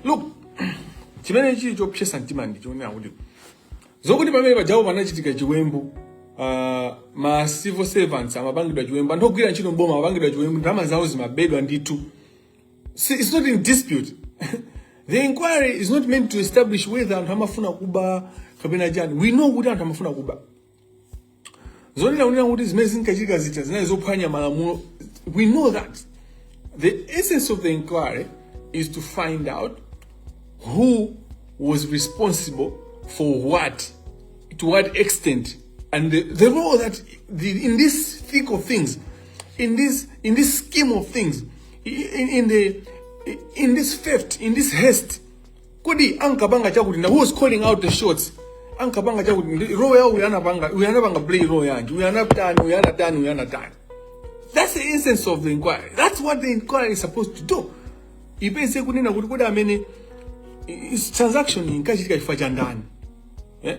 look chimene chili chopsesa mtima ndi chonena kuti zokuti pamene pajawo panachitika chiwembu uh, ma civil servants amapangidwa chiwembu anthu ogwira ntchito mboma amapangidwa chiwembu ndalama zawo zimabedwa ndithu Si- it's not in dispute the inquiry is not meant to establish whether anthu amafuna kuba kapena chani we know kuti anthu amafuna kuba zonena kunena kuti zimene zinkachitika zija zinali zophwanya malamulo we know that the essence of the inquiry is to find out who was responsible for what to what extent and the, the role that the, in this thick of things in this in this scheme of things in, in the in this theft in this haste kodi ankapanga chakuti na who was calling out the shots ankapanga chakuti ndi role yawo uyu anapanga uyu anapanga play role yanji uyu anatani uyu anatani uyu anatani that's the essence of the inquiry that's what the inquiry is supposed to do ipeze kunena kuti kodi amene i- i- transaction inkachitika chifukwa cha ndani eh?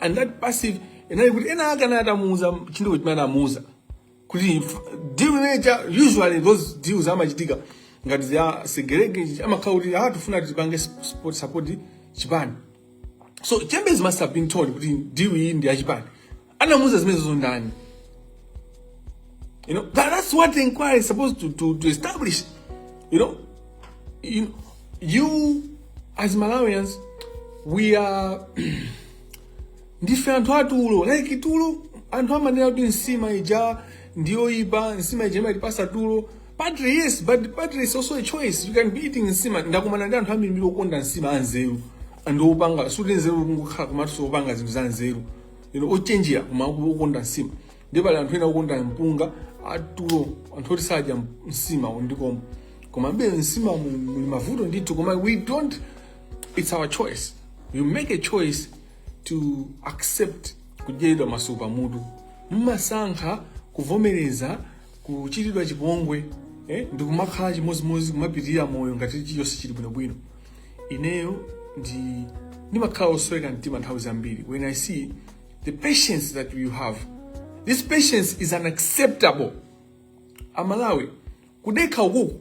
and that perceive inali kuti ena ake anali atamuuza chinthu chimene anamuuza kuti f- deal imeneja usually those deals amachitika ngati za segerege amakhala kuti ah tifuna tipange sp- support support chipani so members must have been told kuti deal iyi ndi yachipani anamuuza zimenezo ndani You know, that, that's what the inquiry is supposed to, to, to establish. You know, you, you as Malawians, we are ndife anthu atulo like tulo anthu amanena kuti nsima ija ndiyoipa nsima ija imatipasa tulo partly yes but partly is also a choice you can be eating nsima ndakumana ndi anthu ambiri okonda nsima anzeru and opanga za nzeru kungokhala komatu sopanga zinthu za nzeru you know ochenjera koma okonda nsima ndiye pali anthu ena okonda mpunga atulo anthu oti sadya msima ndikomwe komabe msima mu- muli mavuto ndithu koma we don't it's our choice you make a choice to accept kudyedwa masuku pamutu mumasankha kuvomereza kuchitidwa chipongwe eh, ndi kumakhala chimodzimodzi kumapitirira moyo ngati chiyonse chili bwinobwino ineyo ndi ndimakhala osweka mtima nthawi zambiri when i see the patience that you have this patience is unacceptable amalawi kudekha ukuku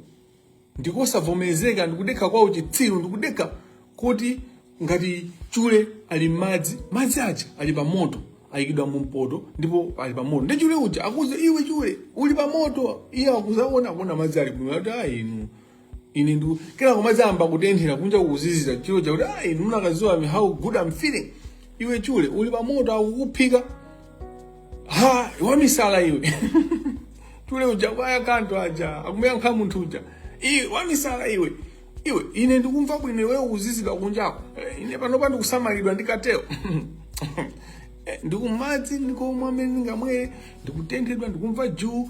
ndikosavomerezeka ndikudekha kwa uchitsiru ndikudekha koti ngati chule ali m'madzi madzi aja ali pa moto ayikidwa mu mpoto ndipo ali pa moto ndi chule uja akuuze iwe chule uli pa moto iye akuzaona akuona madzi ali bwino ati ayi inu ine ndu kila kumazamba kutenthera kunja kuzizira chule akuti ah inu mukanadziwa mwe how good i'm feeling iwe chule uli pamoto akukuphika ha wamisala iwe chule uja kwaya kanto aja akumuyankha munthu uja iwe wamisala iwe iwe ine ndikumva bwino iwe ukuzizidwa kunjako Eh, ine panopa ndikusamalidwa ndikateo ndikumadzi ndikomwe amene ndingamwere ndikutenthedwa ndikumva juu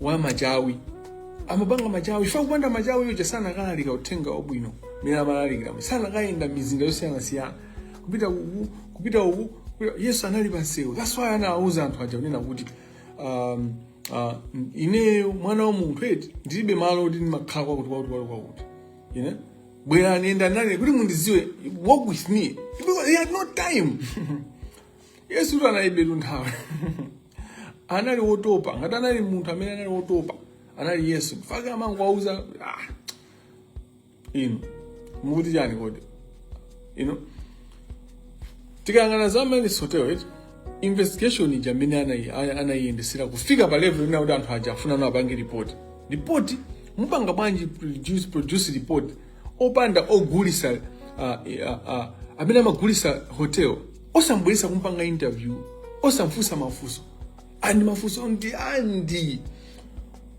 wa machawi amapanga machawi chifukwa kupanda machawi yoja sanakalalikira uthenga wabwino mmene amalalikiramo sanakayenda mizinda yosiyanasiyana kupita uku kupita uku kupita- yesu anali pamsewu that's why anawauza anthu aja kunena kuti um, uh, ineyo mwana wa munthu eti ndilibe malo oti ndimakhala kwakuti kwakuti kwakuti kwakuti you know bwerani enda nane kuti mundidziwe walk with me because he had no time yesu tu analibetu nthawi anali wotopa ngati anali munthu amene anali wotopa anali yesu chifukwa amangowauza ah, inu mukuti chani kodi inu tikayang'ana za amene sotero eti investigation ija amene anayi- ana- anayiyendesera kufika pa level ina kuti anthu aja afuna apange report report mupanga bwanji produce, produce report opanda ogulisa uh, uh, uh, amene amagulisa hotel osamubweretsa kumupanga interview osamfunsa mafunso and mafunso ndi and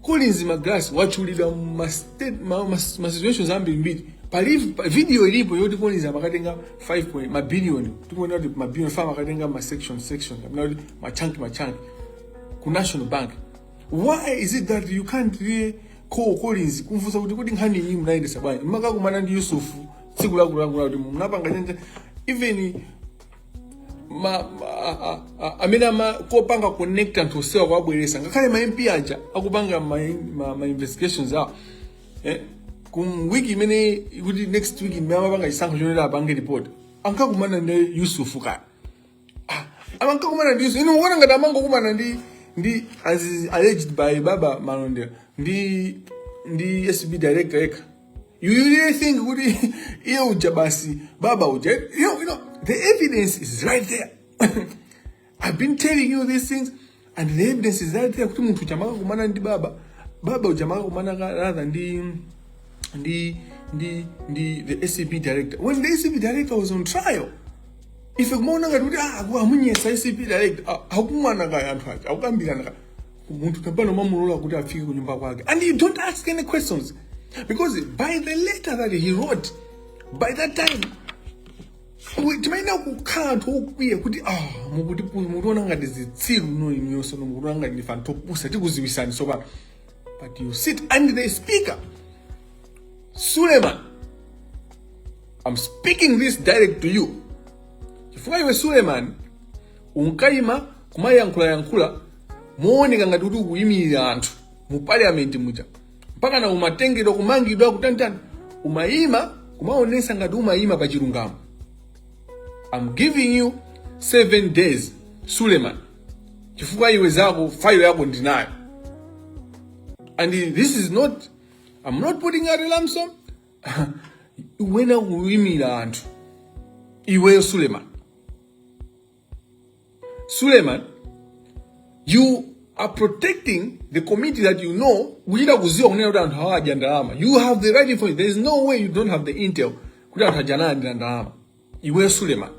collins magalasi watchulidwa ma state- ma- ma- ma situations ambirimbiri pali pa- video ilipo yoti collins amakatenga 5 point mabilioni tikuonera kuti mabilioni chifukwa amakatenga ma section section kapena kuti machanki machanki ku national bank why is it that you can't really call collins kumfunsa kuti kodi nkhani iyi munayendesa bwanji mumakakumana ndi yusufu tsiku lakulankhula kuti munapanga chenje even ma, ma, a, a, amene amakapanga connect anthu osowa kuwabweretsa ngakhale ma mp aja akupanga ma, ma, ma investigations awo eh, ku wiki imene ikuti next week imene amapanga chisankho chonena apange report ankakumana ndi yusufu kaya amankakumana ndi izo inu mukuona ngati amangokakumana ndi ndi as is alleged by baba malondera ndi ndi acb director yekha you you really think kuti iye uja basi baba uja you know, you know the evidence is right there i've been telling you these things and the evidence is right there kuti munthu uja amakakumana ndi baba baba uja amakakumana ka- rather ndi ndi ndi ndi the acb director when the acb director was on trial ife kumaona ngati kuti ah, aku- amunyesa acb director ah, akumana kaya anthu aja akukambirana kaya munthu tapano mumamulola kuti afike ku nyumba kwake and you don't ask any questions because by the letter that he wrote by that time timayenera kukhala anthu okwiya kuti ah, mukutiona ngati zitsiru nthawi zonse mukutiona ngati ndife anthu opusa tikudziwitsani sopano but you sit and the speaker suleman i'm speaking this direct to you chifukwa iwe suleman unkayima kumayankhulayankhula mooneka ngati kuti ukuyimirira anthu mu parliament muja mpakana umatengedwa kumangidwa kutanitani umayima kumaonesa ngati umayima pa chilungamo I'm giving you seven days suleman chifukwa iwe zako file yako ndinayo and this is not I'm not putting out a lump sum wena kuyimira anthu iweyo suleman suleman you are protecting the committee that you know kuchita kuziwa kunena kuti anthu awa adya ndalama you have the right information there is no way you don't have the intel kuti anthu aja analandira ndalama iwe suleman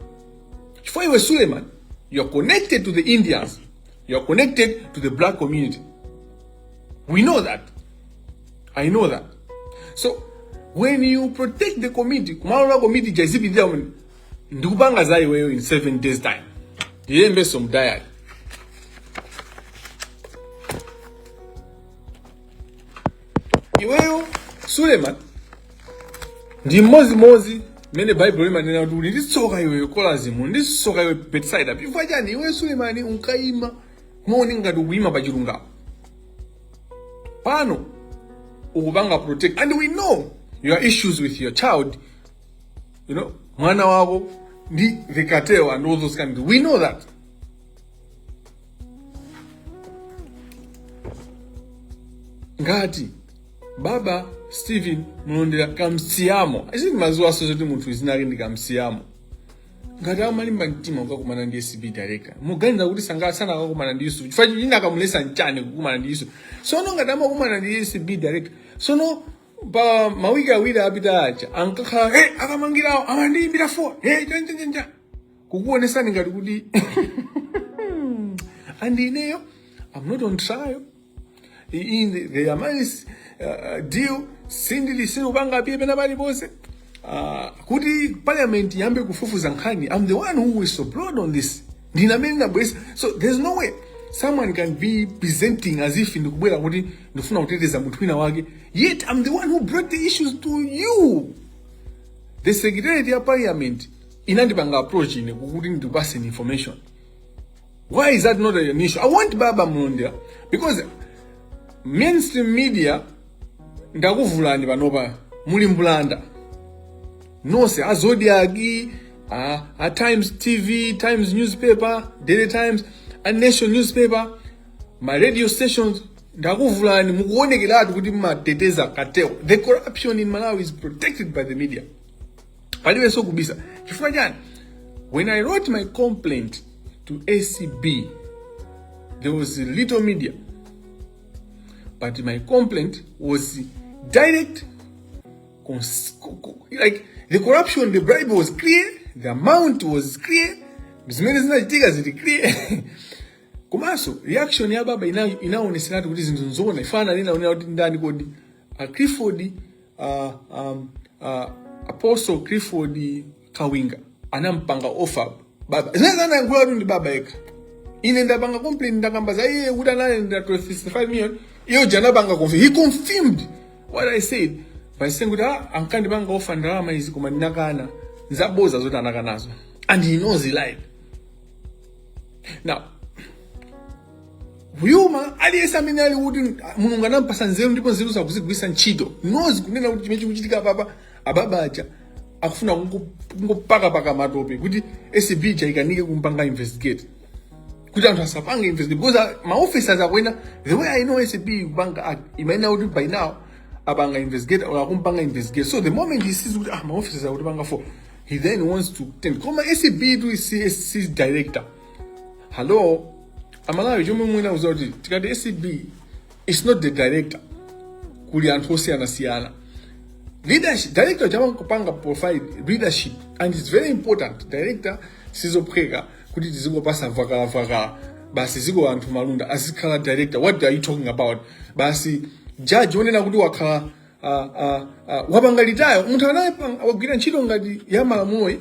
chifukwa iwe suleman you are connected to the indians you are connected to the black community we know that i know that so when you protect the committee kumalola committee izipitira ndikupanga za iweyo in 7 days time ndiyembenso mdayali iweyo suleman ndi mmodzimodzi mmene baibulo limanena kuti uli ndi tsoka iweyo kolazimu ndi tsoka iwe betsaida chifukwa chani iweyo sulemani unkayima muja ngati ukuyima pa chilungamo pano ukupanga protect and we know your issues with your child you know mwana wako ndi the cartel and all those kind we know that ngati baba stephen mlondera kamsiyamo ifenso timaziwaso zoti munthu dzina lake ndi kamsiyamo ngati amalimba mtima kukakumana ndi acb director muganiza kuti sanga- sanakakumana ndi yusuf chifukwa chiyani chikamulesa nchani kukumana ndi yusuf sono ngati amakumana ndi acb director sono pa mawiki awiri apita aja ankakhala hey, akamangirawo amandiyimbira foni hey, chanjanjanja kukuonesani ngati kuti and ineyo i'm not on trial in the, the amaris uh, deal sindili sinupanga appear pena paliponse uh, kuti parliament yambe kufufuza nkhani i'm the one who whistleblowed on this ndine amene ndinabweresa so there's no way someone can be presenting as if ndikubwera kuti ndifuna kuteteza munthu wina wake yet i'm the one who brought the issues to you the secretariat ya parliament inandipanga approach ine kuti ndiwapase information why is that not an issue i want baba mlondera because mainstream media ndakuvulani panopa muli mbulanda nonse a zodiak a, a times tv times newspaper daily times a nation newspaper ma radio stations ndakuvulani mukuonekeratu kuti mumateteza cartel the corruption in malawi is protected by the media palibenso kubisa chifukwa chani when i wrote my complaint to acb there was little media But my complaint was direct, like the corruption, the bribe was clear, the amount was clear, zimene zinachitika zili clear komanso reaction ya baba ina inaoneseratu kuti zinthu nzona mafana munaonera kuti ndani kodi a Clifford uh, um, uh, Apostle Clifford kawinga anampanga offer baba zimene anayankhula kuti ndi baba yekha ine ndapanga complaint ndakamba za iye kuti analandira 65 million iyo ija anapanga confirm he confirmed what i said by saying kuti ah ankandipanga offer ndalama izi koma ndinakana zaboza zoti anakanazo and he knows he lied now human aliyense amene ali kuti mulungu anampasa nzeru ndipo nzeruzo akuzigwiritsa ntchito ndizikunena kuti chimene chikuchitika apapa a baba aja akufuna kungo- kungopakapaka matope kuti acb ija ikanike kumpanga investigate kuti anthu asapange investigate because a- ma officers akwawo the way i know acb kupanga act imayenera kuti by now apanga investigate or akumpanga investigate so the moment he sees kuti ah ma officers akutipanga follow he then wants to taint koma acb ndi acb director hello amalawi chomwe ndikuuzani kuti tikati acb it's not the director kuli anthu osiyanasiyana leadership director amangopanga provide leadership and it's very important director sizophweka kuti tizingopasa vakalavakala basi dziko Anthony Malunda azikhala director what are you talking about basi judge onena kuti wakhala uh, uh, uh, wapanga retire munthu anayepanga wagwira ntchito ngati ya malamulo highest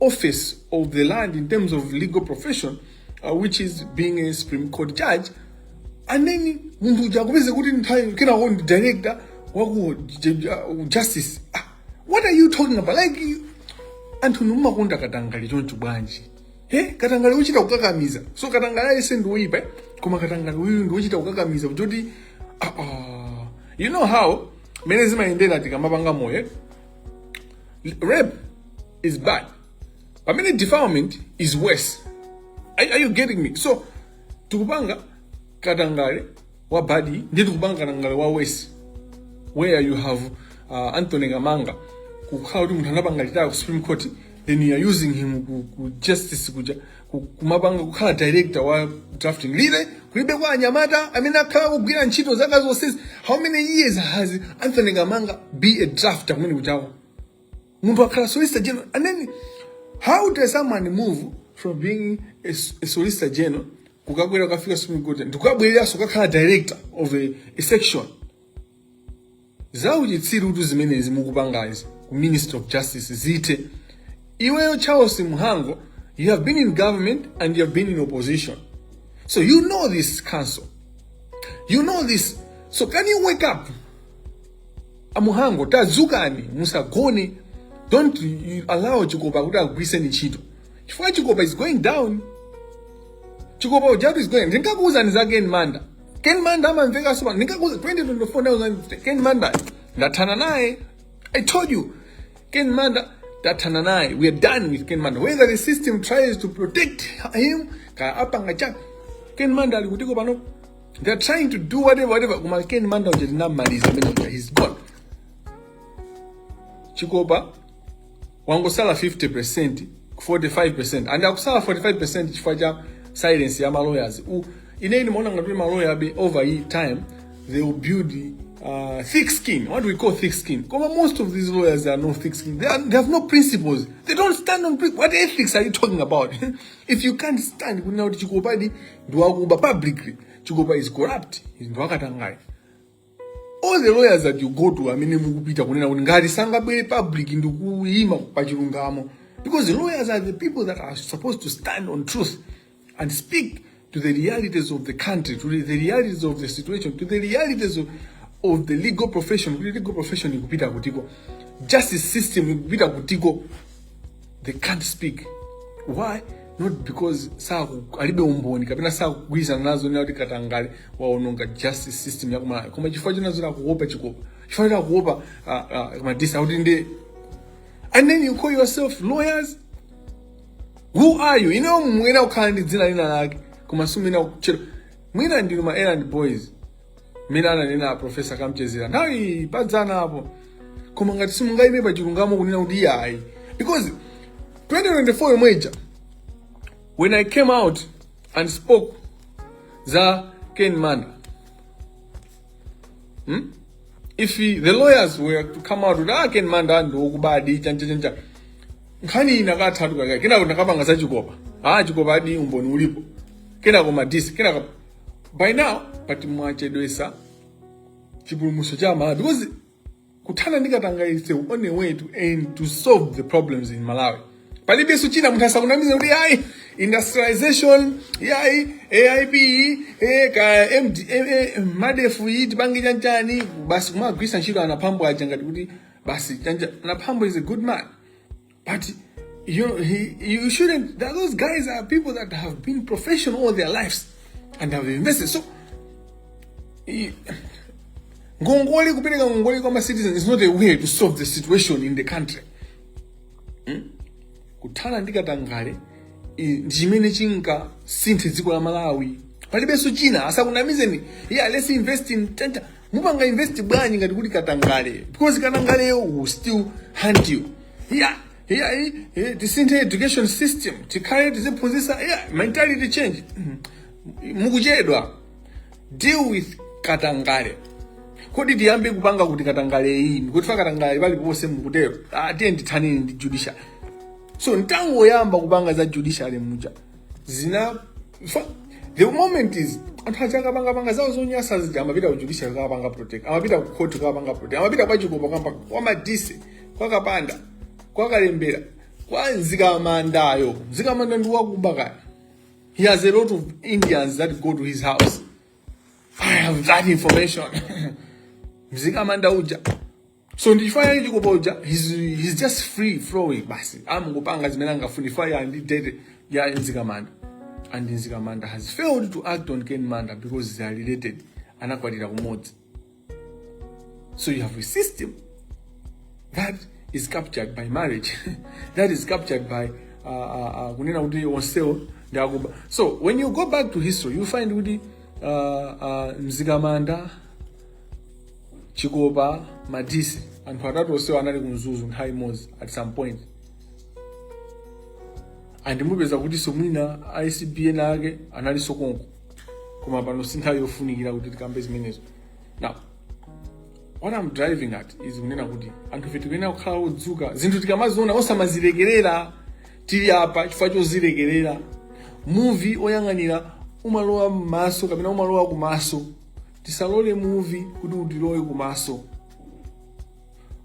office of the land in terms of legal profession uh, which is being a supreme court judge and then munthu uja akupezeka kuti nthawi kenako ndi director waku j- j- uh, justice ah, what are you talking about like you- anthu inu mumakonda katangale choncho bwanji he katangale wochita kukakamiza so katangale yense ndi woyipa eh? koma katangale uyu ndi wochita kukakamiza kuti ah, ah. you know how mene zimayendera tikamapanga law eh? rape is bad pamene defilement is worse are, are you getting me so tikupanga katangale wa bad ndi tikupanga katangale wa worse where you have uh, anthony kamanga kukhala kuti munthu anapanga retire ku supreme court then you are using him ku, ku justice kuja ku- kumapanga kukhala director wa drafting really kulibeko anyamata amene akhala akugwira ntchito zaka zonsezi how many years has anthony kamanga been a drafter kumene kuja munthu akhala solicitor general and then how does someone move from being a, s- a solicitor general kukakwera kukafika supreme court n'kukabwereranso kukakhala director of a, a section zauchitsirutu zimenezi mukupangazi ku ministry of justice zithe iweyo charles mhango you have been in government and you have been in opposition so you know this council you know this so can you wake up a mhango tadzukani musagone don't allow chikopa kuti akugwiriseni ntchito chifukwa chikopa is going down chikopa ujatu is going ndinkakuuzani za ken manda ken manda amamveka woopsa ndinkakuuza 2024 ken manda ndathana naye i told you ken manda ndathana naye we are done with ken manda whether the system tries to protect him kaya apanga cha ken manda ali kutiko pano They are trying to do whatever, whatever. Koma Ken Manda uja tinamaliza amene uja he's gone. Chikopa wangosala 50% 45% and akusala 45% chifukwa cha silence ya maloyers u ine ine maona ngati maloya abe over hii time they will build uh, thick skin what we call thick skin koma most of these lawyers are no thick skin they, are, they have no principles they don't stand on pri- what ethics are you talking about if you can't stand kunena kuti chikopadi ndi wakuba publicly chikopa is corrupt is ndi wakatangale all the lawyers that you go to amene mukupita kunena kuti ngati sangabwere public ndi kuyima pa chilungamo because the lawyers are the people that are supposed to stand on truth and speak to the realities of the country to the realities of the situation to the realities of, of the legal profession kuti legal profession ikupita kutiko justice system ikupita kutiko they can't speak why not because saku alibe umboni kapena sakugwirizana nazo kunena kuti katangale waononga justice system yakumalawi koma chifukwa chinazo akuopa chikopa chifukwa choti akuopa uh, uh, madise akuti ndi and then you call yourself lawyers who are you inuyo mwina kukhala ndi dzina lina lake koma sumina kuchero mwina ndinu ma errand boys mmene ananena profesa kamchedzera nthawi padzana apo koma ngati simungayime pa chilungamo kunena kuti ayi because 2024 yomwe ija when i came out and spoke za ken manda hmm? if he, the lawyers were to come out kuti ah ken manda ndiwokubadi chanchachancha nkhani iyi inakatha tikaka kenako tinakapanga za chikopa ah chikopa aadi umboni ulipo kenako madise kenako by now koma mwachedwesa chipulumuso cha malawi because kuthana ndi katangale is the only way to end to solve the problems in malawi palibenso china munthu asakunamizeni kuti ayi industrialization yayi aip eh, ka MD, eh, eh, madefu ayi tipange chanchani basi kumagwiritsa ntchito a mphambo aja ngati kuti basi chani a mphambo is a good man But you, he, you shouldn't. Those guys are people that have been professional all their lives and have invested. So, he, ngongole kupereka ngongole kwa citizens is not a way to solve the situation in the country. Hmm? Kuthana ndi katangale ndi chimene chingasinthe dziko la Malawi. Palibenso china asakunamizeni. Yeah, let's invest in tenta. mupanga invest bwanji ngati kuti katangale because katangaleyo will still hunt you yeah yeah eh, eh, tisinthe education system tikhale tiziphunzisa yeah mentality change Mhm. mukuchedwa deal with katangale kodi tiyambe kupanga kuti katangale ayi n'kuti ife katangale pali ponse mukutero ah, tiyeni tithane ndi judiciary so ntangoyamba kupanga za judiciary muja zina fa- the moment is anthu aja akapangapanga zawo zonyasa zija amapita ku judiciary kukapanga protect amapita ku court kukapanga protect amapita kwa chikopa kaya kwa madise kwa kapanda kwa kalembera kwa mzikamandayo mzikamanda ndi wakuba kaya he has a lot of indians that go to his house i have that information mzikamanda uja so ndichifaniziro cha chikopa he's, he's just free flowing basi amangopanga zimene amafuna ifa ya ndi dede ya mzikamanda and mzikamanda has failed to act on ken manda because they are related anakwatira kumodzi so you have a system that is captured by marriage that is captured by uh, uh, uh, kunena kuti onsewo ndi akuba so when you go back to history you find kuti uh, uh, mzikamanda chikopa madise anthu atatu onsewo anali kumzuzu nthawi imodzi at some point and mupeza kuti so mwina acb ena ake anali sokonko koma pano si nthawi yofunikira kuti tikambe zimenezo now what i'm driving at is kunena kuti anthu ife tikuyenera kukhala odzuka zinthu tikamaziona osamazilekerera tili apa chifukwa chozilekerera muvi woyang'anira umalowa m'maso kapena umalowa kumaso Tisalole muvi kuti utilowe kumaso.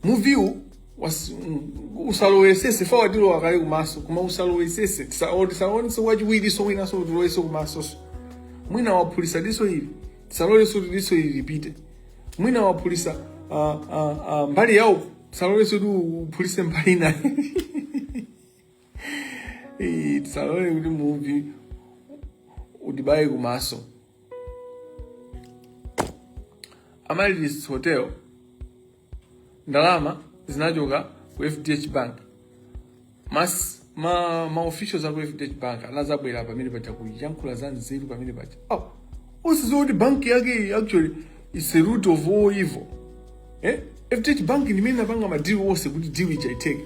Muviwu was- mm, usalowesese if watilowa kale kumaso koma usalowesese Tisa- or tisaonenso wachiwiriso mwinanso utilowenso kumasoso mwina waphulisa diso ili tisalolenso kuti diso ili lipite mwina waphulisa ah, ah, ah, mbali yawo tisalolenso kuti uphulise mbali inayo Eh, tisalole kuti muvi utibaye kumaso amaryllis hotel ndalama zinachoka ku fdh bank mas ma ma officials aku fdh bank anazabwera pamene paja kuyankhula za nzeru pamene paja oh, osaziwa kuti banki yake actually is the root of all evil eh? fdh bank ndi imene inapanga madili onse kuti deal ichitike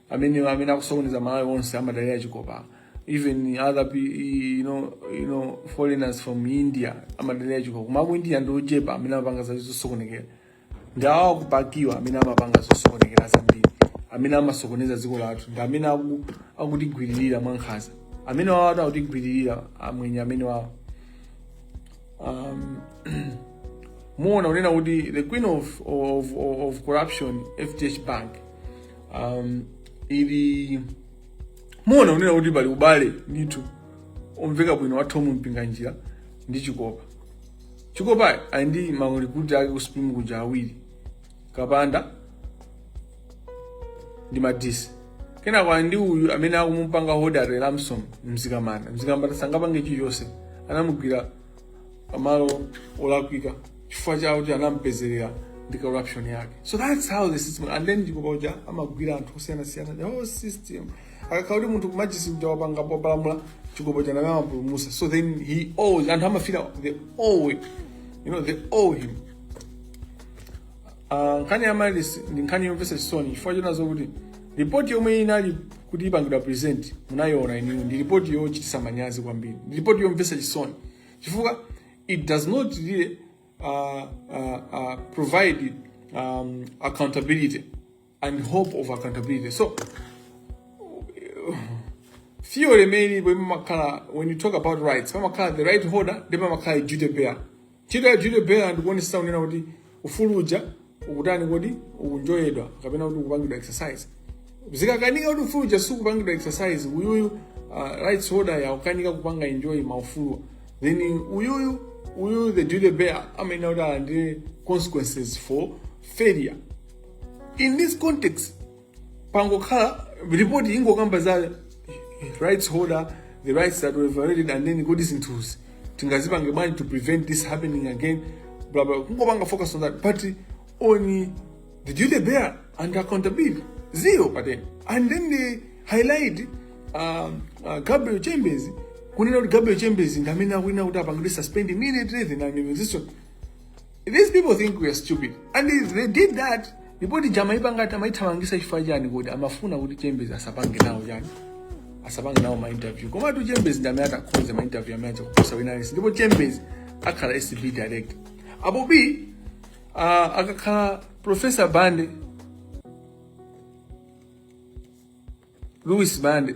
amene amene akusokoneza malawi onse amadalira chikopa even other pe- you know, you know, foreigners from india amadalira chikopa koma aku india ndi ochepa amene amapanga za zosokonekera ndi awo akupakiwa amene amapanga zosokonekera zambiri amene amasokoneza dziko lathu ndi amene aku- akutigwiririra mwankhaza amene wawo ati akutigwiririra amwenye amene wawo um, muona kunena kuti the queen of, of, of, of corruption fdh bank um, ili muona unena kuti pali ubale ndithu omveka bwino wa Tom Mpinganjira ndi Chikopa Chikopa ali ndi maulikuti ake ku Supreme kuja awiri Kapanda ndi Madise kenako ali ndi uyu amene akumupanga hodare at ransom Mzikamanda Mzikamanda sangapange chilichonse anamugwira pamalo olakwika chifukwa choti anampezerera ndi corruption yake so that's how the system and then ndipo paja amagwira anthu osiyanasiyana the whole system akakhala kuti munthu kumajisi mja wapanga popalamula Chikopa uja amampulumutsa so then he owes anthu amafira they owe you know they owe him Ah, nkhani ya Mayo ndi nkhani yomvetsa chisoni chifukwa chonena kuti ripoti yomwe inali kuti ipangidwa present ndayiona iniyo ndi ripoti yochititsa manyazi kwambiri ndi ripoti yomvetsa chisoni chifukwa it does not really uh, uh, uh, provide um, accountability and hope of accountability. So, few remaining when you talk about rights, the right holder, ndiye pamakhala duty bearer. Ndiye duty bearer amaonetsetsa kuti ufulu uja, ukutani kodi, ukuenjoyedwa, kapena kuti kupangidwa exercise. Zikakanika kuti ufulu uja sukupangidwa exercise, uyuyu uh, rights holder uja akukanika kupanga enjoy maufulu. Then uyuyu, uyuyu the duty bearer, amayenera kukhala ndi consequences for failure. in this context yangokhala report ingokamba za rights holder the rights that were violated and then kodi zinthuzi tingazipange bwanji to prevent this happening again blah blah kungopanga focus on that but on the duty bearer and accountability zero patent and then they highlight uh, uh, gabriel chembezi kunena kuti gabriel chembezi ndi amene akuyenera kuti apangidwe suspend immediately then an investigation These people think we are stupid and if they did that report ija amaipanga ati amaithamangisa chifukwa chani kuti amafuna kuti chembezi asapange nawo chani asapange nawo ma interview komatu chembezi ndi amene anakhoza ma interview amene aja kuposa wina aliyense ndipo chembezi akhala acb director apo b uh, akakhala professor bande lewis bande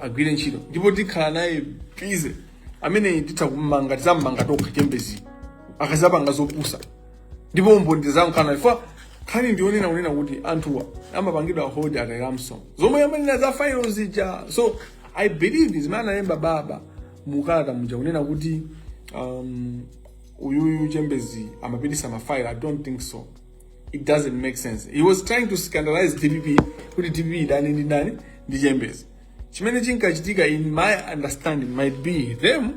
agwire ntchito ndipo tikhala naye pize amene titha kummanga tizammanga tokha chembezi akazapanga zopusa ndipo mboni tizakhala chifukwa nkhani ndi yonena kunena kuti anthuwa amapangidwa hold at a ransom zomwe amanena za failo zija so i believe zimene analemba baba mukalata muja kunena kuti um, uyuyu chembezi amapitisa mafailo i don't think so it doesn't make sense he was trying to scandalize dpp kuti dpp idani ndi ndani ndi chambers chimene chinkachitika in my understanding might be them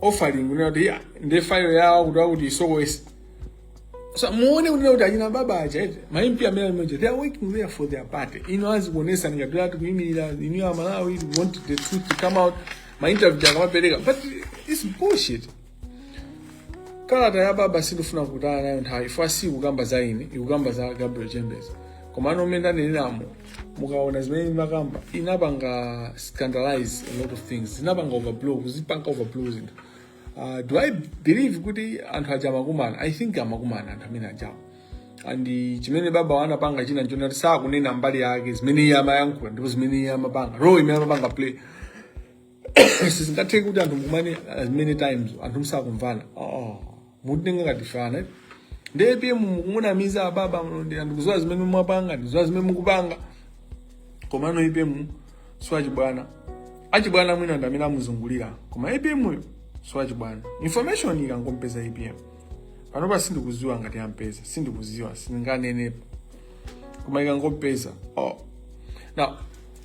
offering kunena kuti "Yeah, ndi fayo yawo kuti akuti isowese so muone kunena kuti achina baba aja ete maimpi amene ajawo they are working there for their party inu azikuonesani ngati ati kuyimirira inu a malawi we want the truth to come out mainterview akamapereka but it's bullshit kalata ya baba sindifuna kutaya nayo nthawi chifukwa si ikukamba za ine ikukamba za gabriel chambers komano mmene ndaneneramu mukaona zimene ndimakamba inapanga scandalize a lot of things zinapanga overblow kuzipanga overblow zinthu uh, do i believe kuti anthu aja amakumana i think amakumana anthu amene ajawo and chimene baba anapanga china nchonena kuti sakunena mbali yake zimene iye amayankhula ndipo zimene iye amapanga role imene amapanga play sizingatheki kuti anthu mukumane as many times anthu musakumvana oh, mutitenga ngati afana ndi apm mukumunamiza ababa mlonde anthu akuziwa zimene mwapanga ndiziwa zimene mukupanga komano apm siwachibwana achibwana mwina ndi amene amuzungulirawo koma apm-yo siwachibwana information ikangompeza apm panopa sindikuziwa ngati ampeza sindikuziwa sindinganenepo koma ikangompeza oh. now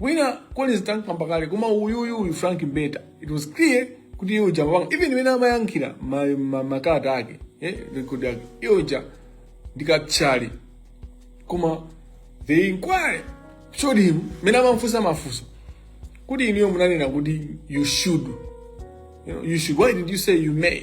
wina collins tankamba kale koma uyuyu uyu frank mbeta it was clear kuti iye uja amapanga even mmene amayankhira ma- ma- makalata ake eh, record yake iye uja ndikatchali koma the inquiry showed him mmene amamfunsa mafunso kuti inuyo munanena kuti you should you, know, you should why did you say you may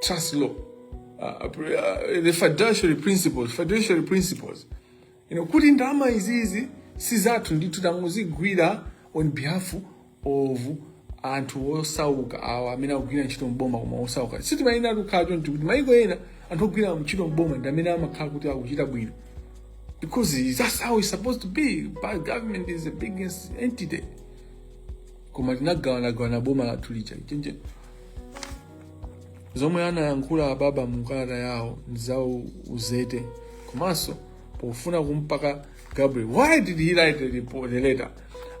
trust law, uh, uh, uh the fiduciary principles, fiduciary principles. You know, kuti ndalama izizi si zathu ndithu tangozigwira on behalf of anthu osauka awa amene akugwira ntchito mboma komano osauka sitimayenera kukhala choncho kuti maiko ena anthu ogwira ntchito mboma ndi amene amakhala kuti akuchita bwino because that's how it's supposed to be but government is the biggest entity koma tinagawanagawana boma lathu lija chenje zomwe anayankhula ababa mu kalata yawo ndi za u- uzete komanso pofuna kumpaka gabriel why did he write the, report, the letter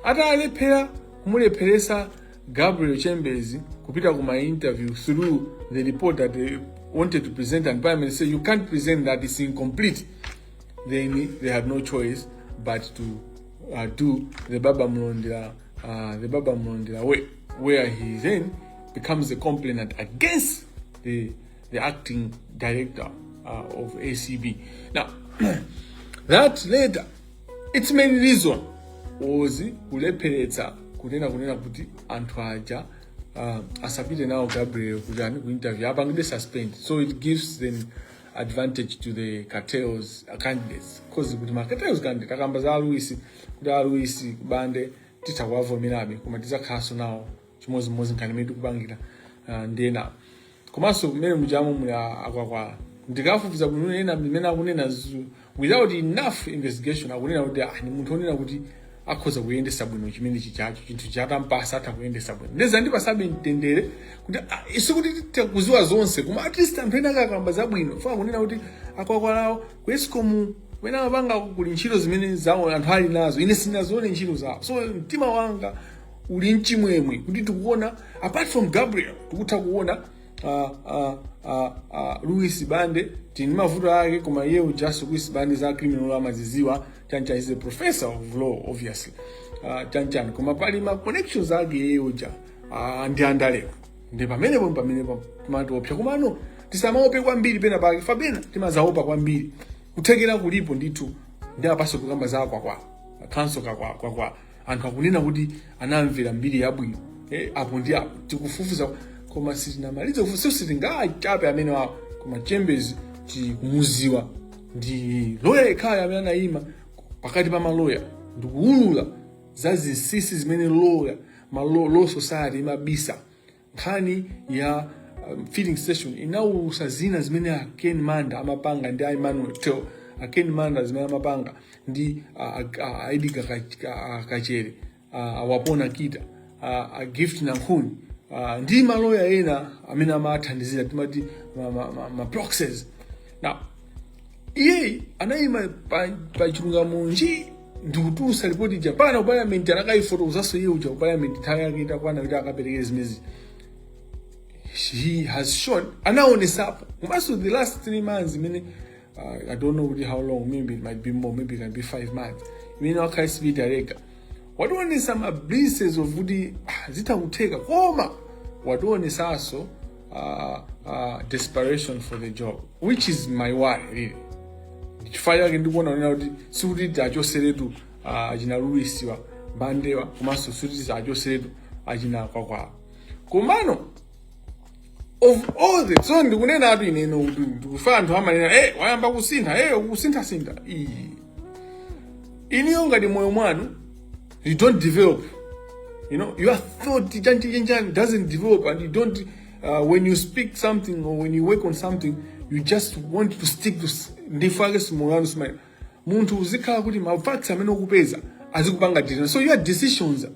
atalephera kumulepheresa gabriel chambers kupita ku ma interview through the report that they wanted to present and prime minister you can't present that it's incomplete then they had no choice but to uh, do the baba mlonde uh, the baba Mulondela way, where he then becomes a complainant against the, the acting director uh, of ACB. Now, that later, its main reason was kulepheretsa kunena kunena kuti anthu aja uh, asapite nawo gabriel kuti ani kuinterview apangide suspend so it gives them advantage to the cartels uh, candidates cause kuti ma cartels candidate akukamba za aluisi kuti aluisi kubande titha kuwavomerabe koma tidzakhalanso nawo chimodzimodzi nkhani imene tikupangira uh, ndi enawa komanso kumene mujamu muli a- akwakwala ndikafupikitsa kunena mmene akunena zu- without enough investigation akunena kuti ah, ni munthu onena kuti akhoza kuyendesa bwino chimenechi chinthu chitampatsa atha kuyendesa bwino nde zandipasabe mtendere kuti ah, sikuti tikuziwa zonse koma at least anthu ena akakamba zabwino funa kunena kuti a Kwakwalawo ku escom umene amapanga kuli ntchito zimene zawo anthu ali nazo ine sinazione ntchito zawo so mtima wanga uli nchimwemwe kuti tikuona apart from gabriel tikutha kuona uh, uh, uh, uh, Louis Bande tili ndi mavuto ake koma iye ujaso Louis Bande za criminal amaziziwa chanchani is a professor of law obviously uh, chanchani koma pali ma connections ake iye uja uh, ndi andalewa ndi pamene pomwe pamene pamatiopsa komano tisamaope kwambiri pena pake fabena timazaopa kwambiri kuthekera kulipo ndithu ndi apaso kukamba za Kwakwala kanso kakwakwakwa anthu akunena kuti anayamvera mbiri yabwino eh, apo ndi apo tikufufuza koma sitinamalize kufufuza sio sitingawachape amene wawo koma chembezi tikumuziwa ndi loya yekhayo amene anayima pakati pa maloya ndikuwulula za zinsinsi zimene loya ma- law society imabisa nkhani ya um, filling station inatulusa zina zimene a ken manda amapanga ndi a emmanuel tell a ken manda zimene amapanga ndi a- a- a- a Edgar Kach- Ka- a- kachere a- a Wapona Kita a- a gift nankhuni a, ndi maloya ena amene amawathandizira timati ma, ma, ma, ma proxies now iye anayima pa, pa chilungamo nji ndikutulusa lipoti lija pano ku palamenti anakayifotokozanso iye uja ku palamenti nthawi yake itakwana kuti akaperekere zimenezi he has shown anaonesapo komanso the last three months imene uh, i don't know kuti how long maybe it might be more maybe it can be five months imene wakhala ACB director wationesa ma glimpses of kuti ah, zitha kutheka koma wationesanso uh, uh, desperation for the job which is my worry really chifukwa chake ndikuona kunena kuti sikuti tiachoseretu achina Louis Bandewa komanso sikuti tiachoseretu achina kwakwala komano of all the so ndikunena atu ineyo kuti ndikumva anthu amanena hey, wayamba kusintha hey, ukusinthasintha iyayi inuyo ngati moyo mwanu you don't develop you know your thought chantichenjani doesn't develop and you don't uh, when you speak something or when you work on something you just want to stick to s- ndifake simulano simaina munthu uzikhala kuti ma facts amene ukupeza azikupanga determine so your decisions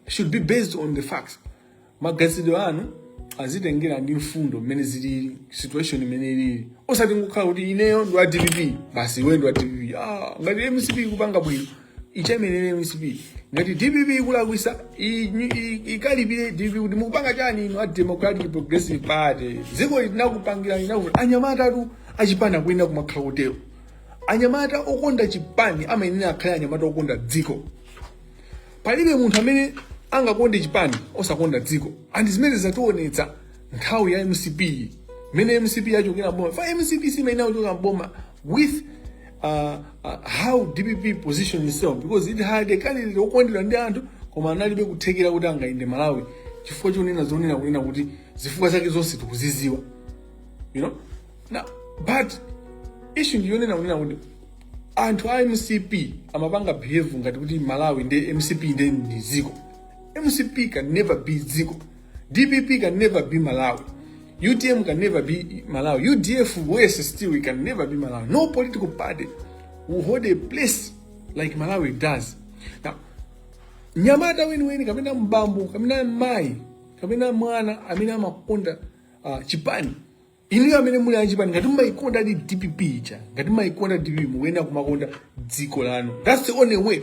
should be based on the facts maganizidwe anu azitengera ndi mfundo mmene zilili situation imene ilili osati kungokhala kuti ineyo ndi wa dpp basi iwe ndi wa dpp ah, ngati mcp ikupanga bwino ichemerere mcp ngati dpp ikulakwisa i- i- ikalipire dpp kuti mukupanga chani inu a democratic progressive party dziko linakupangira linakuti anyamata athu achipani kuyenda kumakhala kutero anyamata okonda chipani amayenera akhale anyamata okonda dziko palibe munthu amene angakonde chipani osakonda dziko and zimene zizationetsa nthawi ya mcp iyi mmene mcp yachokera mboma fa mcp siinakachoka mboma with uh, uh, how dpp positioned itself because it had a candidate okondedwa ndi anthu koma analibe kuthekera kuti angayende malawi chifukwa chonena zonena kunena kuti zifukwa zake zonse tikuziziwa you know Na, but issue ndiyonena kunena kuti anthu a mcp amapanga behave ngati kuti malawi ndi mcp ndi dziko mcp can never be dziko dpp can never be malawi utm can never be malawi udf worse still we can never be malawi no political party will hold a place like malawi does now mnyamata weniweni kapena bambo kapena mayi kapena mwana amene amakonda uh, chipani inuyo amene muli achipani ngati mumayikondadi dpp ija ngati mumayikonda dpp mukuyenera kumakonda dziko lanu thats the only way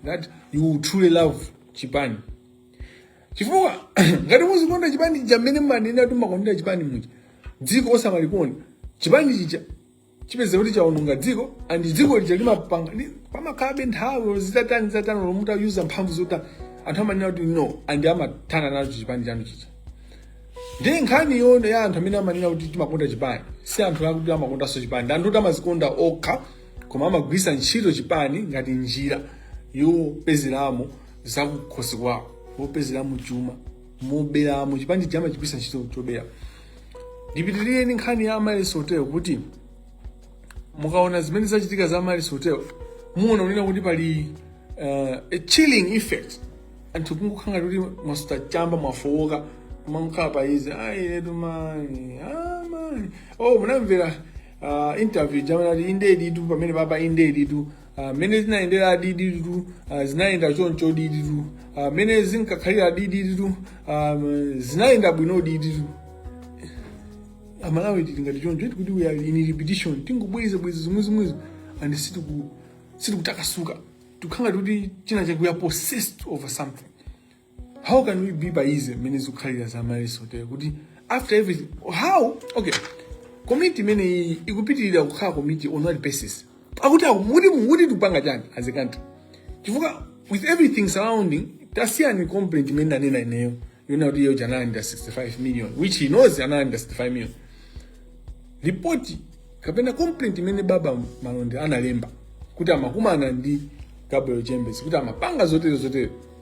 that you will truly love chipani chifukwa ngati muzikonda chipani chija mmene mumanena kuti mumakondera chipani muja dziko osamalikonda chipani chija chipeze kuti chaononga dziko and dziko lija limapanga li- pamakhalabe nthawi zitatani zitatani lomwe mutaluza mphamvu zotani anthu amanena kuti no and amathana nacho chipani chanu chija ndi nkhani yonse ya anthu amene amanena kuti timakonda chipani si anthu akuti amakondanso chipani ndi anthu kuti amazikonda okha koma amagwirisa ntchito chipani ngati njira yopezeramo zakukhosi kwawo yopezeramo chuma moberamo chipani chija amachigwirisa ntchito chobera ndipitirire ndi nkhani ya Miles Hotel yakuti mukaona zimene zachitika za Miles Hotel muona kunena kuti pali uh, a chilling effect anthu kungokhala ngati kuti mwasuta chamba mwafowoka kumakhala pa izi ayiretu mani amani oh munamvera uh, interview jamani akuti indeditu pamene papa indeditu Ah, mmene zinayendera indeditu ah, zinayenda choncho indeditu ah, mmene zinkakhalira indeditu zinayenda bwino indeditu amalawi tili ngati choncho iti kuti we are in repetition tingobweza bweza zomwe zomwezo and sitiku- sitikutakasuka tikukhala ngati kuti china chakuya possessed over something how can we be pa izi mmene zikukhalira za Miles Hotel kuti after everything how okay komiti imeneyi ikupitirira kukhala komiti on what basis akuti aku- muti muti tikupanga chani as a country chifukwa with everything surrounding tasiyani complaint imene ndanena ineyo yonena kuti iyo analandira 65 million which he knows analandira 65 million ripoti kapena complaint imene baba malonde analemba kuti amakumana ndi gabriel chambers kuti amapanga zotere zotere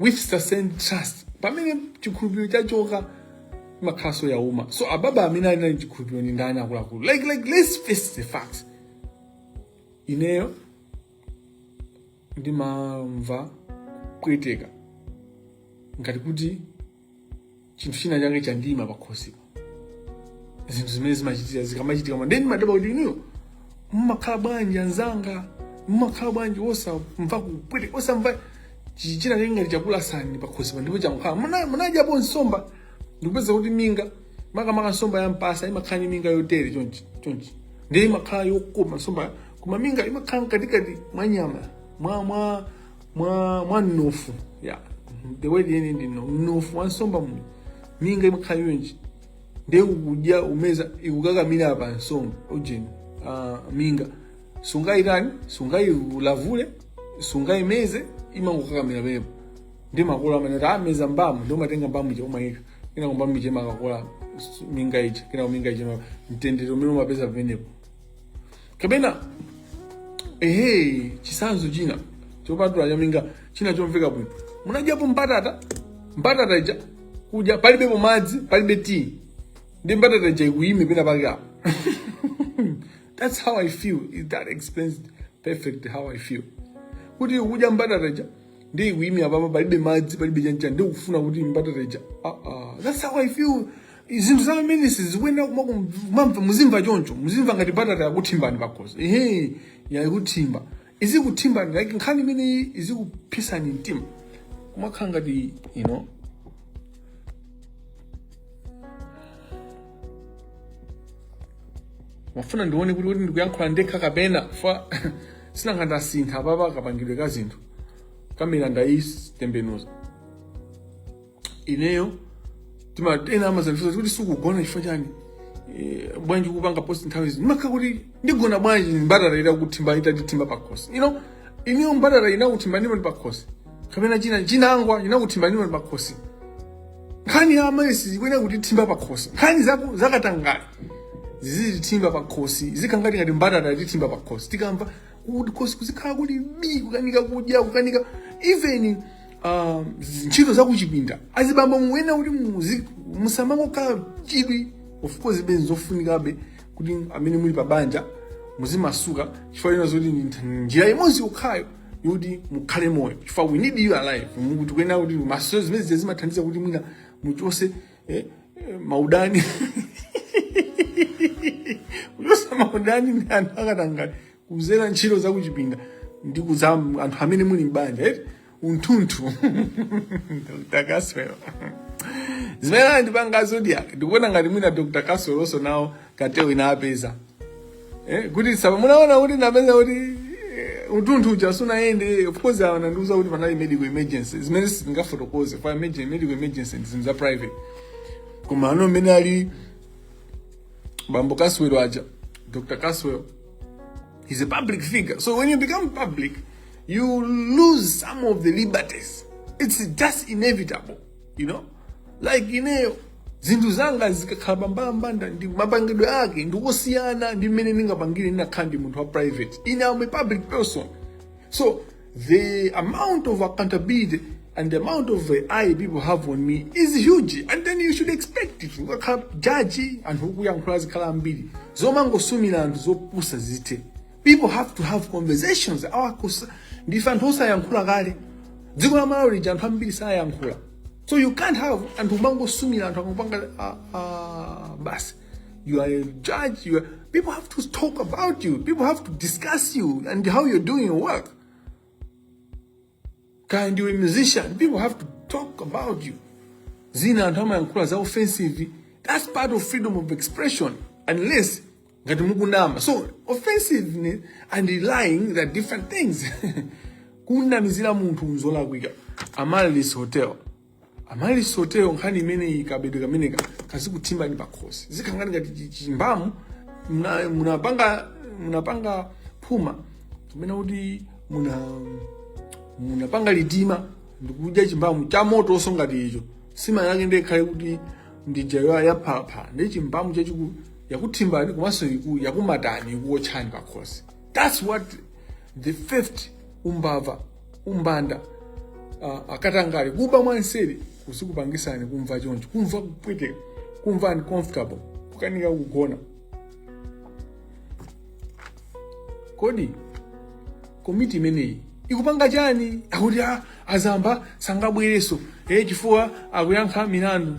with sustained trust pamene chikhulupiriro chachoka makhalanso yauma so ababa amene ali nacho chikhulupiriro ndi ndani akuluakulu like like let's face the facts ineyo ndimamva kupweteka ngati kuti chinthu china chake chandiima pakhosipo zinthu zimene zimachitika zikamachitika moti ine ndimadabwa kuti inuyo mmakhala bwanji anzanga mmakhala bwanji osamva kupwete osamva chi- china chake ngati chakulasani pakhosipo ndipo chakukhala Muna- munadyapo nsomba ndikupeza kuti minga makamaka nsomba ya mpasa imakhala ndi minga yotere chonchi chonchi ndiye imakhala yokoma nsomba koma minga imakhala mkatikati mwa nyama mwa mwa mwa mwa mnofu ya the way yeni ndi no mnofu wansomba mu minga imakhala chonchi nde ukudya ukumeza ikukakamira pa nsomba ujeni uh, minga sungayitani sungayilavule sungayimeze imangokakamira pompo ndi makolo amene kuti ameza mbamu ndi umatenga mbamu ija umayika kenako mbamu ija imakakola minga ija kenako minga ija mtendere umene umapeza pamenepo kapena ehe chisanzo china chopatula chaminga china chomveka bwino munadyapo mbatata mbatata ija kudya palibepo madzi palibe tea ndi mbatata ija ikuyime pena pake apo that's how i feel It- that explains perfect how i feel kuti ukudya mbatata ija ndiye yakuimira apapa palibe madzi palibe chanichani ndiye kufuna kuti mbatata ija ah, ah. that's how i feel zinthu za ministry zikuyenera kuma- kumamva muzimva choncho muzimva ngati mbatata yakuthimbani pakhosi ehe yakuthimba izikuthimbani like nkhani imeneyi izikupsetsani mtima kumakhala ngati you know ndimafuna ndione kuti kuti ndikuyankhula ndekha kapena fa sinanga ndasintha apapa kapangidwe ka zinthu kamera ndaitembenuza ineyo ndimatena amadzandifunsa kuti simukugona chifukwa chani Eh, bwanji kupanga post nthawi zino ndimakhala kuti ndigona bwanji mbatata ita kuthimba itatitimba pakhosi you know ineyo mbatata inakuthimbanipo ni pakhosi kapena china chinangwa inakuthimbanipo ni pakhosi nkhani ya amaryllis zikuyenera kutithimba pakhosi nkhani zaku- zakatangale zizitithimba pakhosi zizikhala ngati mbatata yatithimba pakhosi tikamva kuti khosi kuzikhala kuti bi kukanika kudya kukanika even uh, ntchito zakuchipinda azibambo muyenera kuti muzi- musamangokhala chidwi of course zimenezo nzofunikabe kuti amene muli pabanja muzimasuka chifukwa china nzoti ndi njira imodzi yokhayo yoti mukhale moyo chifukwa we need you alive mulungu tikuyenera kuti mwinanso zimene zija zimathandiza kuti mwina muchose eh, eh, maudani kuchosa maudani ndi anthu akatangale kudzera ntchito zakuchipinda ndikuuza anthu amene muli m'banja eti unthunthu dr caswell zimene anandipanga zodiac ndikuona ngati mwina dr caswell also nawo komiti inapeza eh, kuti sapa munaona kuti napeza kuti eh, munthu uja sunayende of course anandiuza kuti panali medical emergency zimene sizingafotokoze pa emergency medical emergency ndi zinthu za private koma ano mmene ali bambo kaswero aja dr kaswero he's a public figure so when you become public you lose some of the liberties it's just inevitable you know like ineyo zinthu zanga zikakhala pambalambanda mapangidwe ake ndi kosiyana ndi mmene ndingapangire ndinakakhala munthu wa private ine am a public person so the amount of accountability and the amount of uh, eye people have on me is huge and then you should expect it ukakhala jaji anthu okuyankhula azikhala ambiri zomangosumira anthu zopusa zithe people have to have conversations awakusa ndife anthu osayankhula kale dziko la Malawi lija anthu ambiri sayankhula so you can't have anthu ukumangosumira anthu akupanga ah, ah, basi you are a judge you are, people have to talk about you people have to discuss you and how you're doing your work kaya ndiwe musician people have to talk about you zina anthu amayankhula za offensive that's part of freedom of expression unless ngati mukunama so offensiveness and lying they're different things kunamizira munthu nzolakwika Amaryllis hotel Amaryllis hotel nkhani imeneyi kabedwe kameneka kazikutsinani pakhosi zikhala ngati chi- chimbamu muna- munapanga munapanga phuma kapena kuti muna munapanga litima ndikudya chimbamu cha motonso ngati icho nsima yake nde ikhale kuti ndi ija yaphalaphala ndi chimbamu chachikulu yakuthimbani komanso yakumatani ikuwotchani pakhosi that's what the fifth umbava umbanda uh, akatangale kuba mwanseri kuzikupangitsani kumva choncho kumva kupweteka kumva uncomfortable kukanika kugona kodi komiti imeneyi ikupanga chani akuti a Zamba sangabwerenso eh chifukwa akuyankha milandu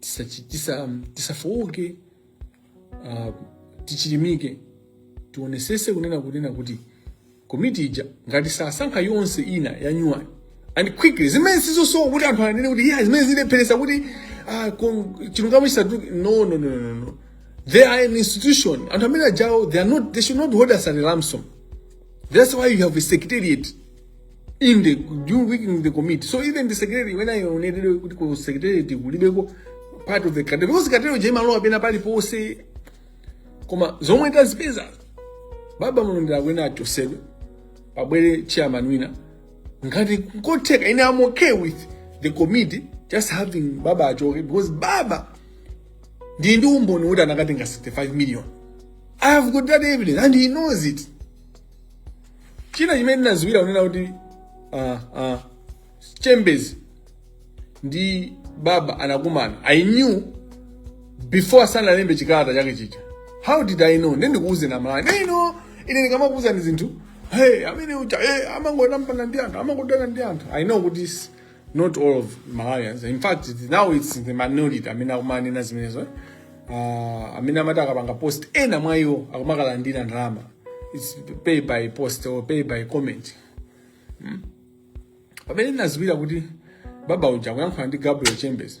tisachi- tisa- tisafooke ah, tichilimike tionetsetse kunena kunena kuti komiti ija ngati sasankha yonse ina ya nyuwani and quickly zimenezi zosowa kuti anthu anene kuti yeah zimene zilepheretsa kuti ah, kon- chilungamo chisatuluke no no no no no they are an institution anthu amene ajawo they are not they should not hold us at a ransom that's why you have a secretariat in the during working in the committee so even the secretary when i onedere kuti ku secretary kulibeko part of the cartel because cartel ija imalowa pena paliponse koma zomwe tazipeza baba mulondera kunena achosedwe pabwere chairman wina ngati kotheka ine am okay with the committee just having baba achoke because baba ndiye ndi umboni woti anakatenga 65 million i have got that evidence and he knows it china chimene ndinaziwira kunena kuti ah, ah, chembezi ndi baba anakumana i knew before sanalembe chikalata chake chija how did i know nde ndikuuzani Amalawi ineyo ine ndikamakuuzani zinthu hey amene uja hey, amangotampana ndi anthu amangodana ndi anthu i know kuti s- not all of malawians in fact it- now its the minority amene akumanena zimenezo eh? uh, amene amati akapanga post ena mwa iwo akumakalandira ndalama its pay by post or pay by comment pamene ndinaziwira kuti baba uja akuyankhula ndi gabriel chembezi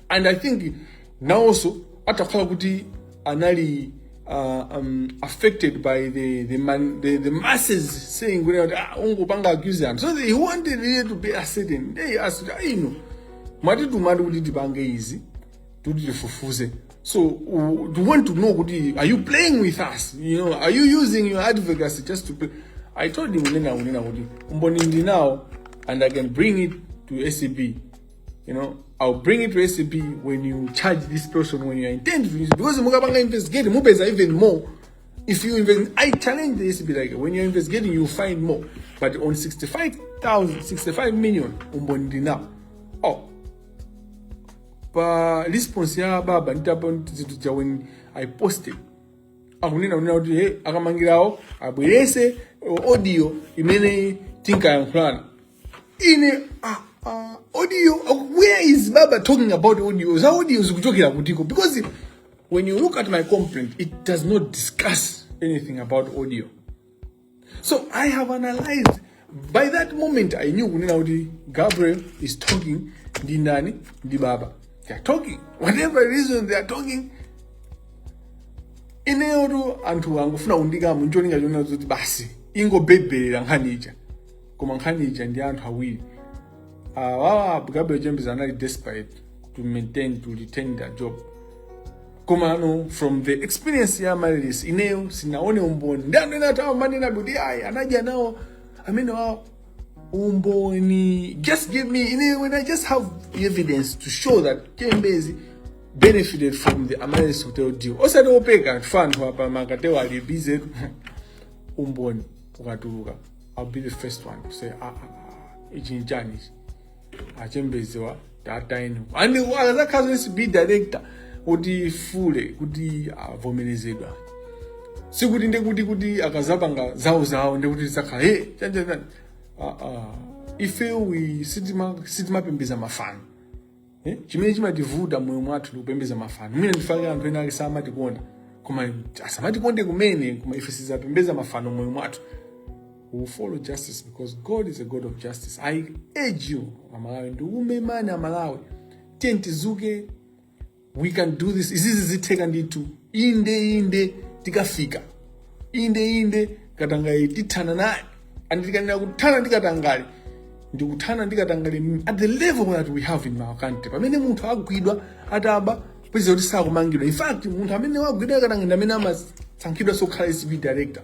and i think nawonso atakhala kuti anali uh, um, affected by the, the, man, the, the masses saying kuti ah, ungopanga accuse anthu so he wanted really to be ascertain hey, as ah, inu mwatituma kuti tipange izi kuti tifufuze so uh, you want to know kuti are you playing with us you know are you using your advocacy just to play i told him kunena kunena kuti umboni ndinawo and i can bring it to acb you know i'll bring it to acb when you charge this person when you intend to use it because mukapanga investigate mupeza even more if you invest i challenge the acb like when you're investigating you find more but on 65000 65 million umboni ndinawo oh pa response ya baba nditapanga zinthu zija when i posted akunena kunena kuti he akamangirawo abwerese audio imene tinkayankhulana ine ah, ah, audio where is baba talking about audio za audio zikuchokera kutiko because when you look at my complaint it does not discuss anything about audio so i have analyzed by that moment i knew kunena kuti gabriel is talking ndi ndani ndi baba they are talking whatever reason they are talking ineyotu anthu angofuna kundiikamo ncholinga chonena kuti basi ingobhebherera nkhani ija koma nkhani ija ndi anthu awiri awawa uh, gabriel chembezi anali desperate to maintain to retain their job koma ano from the experience ya amaryllis ineyo sindinaone umboni ndi anthu ena atha kumanena kuti ayi anadya nawo amene awawo umboni just give me ine when i just have evidence to show that chembezi benefited from the amaryllis hotel deal osati opeka anthu anthu apa ma cartel wo ali bize umboni ukatuluka I'll be the first one to say, ah, ah, ah, ichi ni chani ichi. Achembedzewa, tata inu. Ena akazakhala za ACB director kuti pfule kuti avomerezedwe. Sikuti ndekuti kuti akazapanga zawo zawo ndekuti zakhala hey chanja chanja. Ah ah. Ife we sitima sitimapembedza mafano. Eh? Chimene chimativuta moyo mwathu ndi kupembedza mafano. Mwina ndifukwa chake anthu ena ake samatikonda. Koma asamatikonde kumene koma ife sitizapembedza mafano moyo mwathu. We will follow justice because God is a God of justice. I urge you, Amalawi, ndi kumemani Amalawi. Tiyeni tidzuke we can do this izizi zitheka ndithu inde inde tikafika inde inde katangale tithana naye and tikanena za kuthana ndi katangale ndikuthana ndi katangale m- at the level that we have in our country pamene munthu agwidwa ataba upeza kuti sakumangidwa in fact munthu amene wagwidwa akatangale ndi amene amasankhidwa zokhala ACB director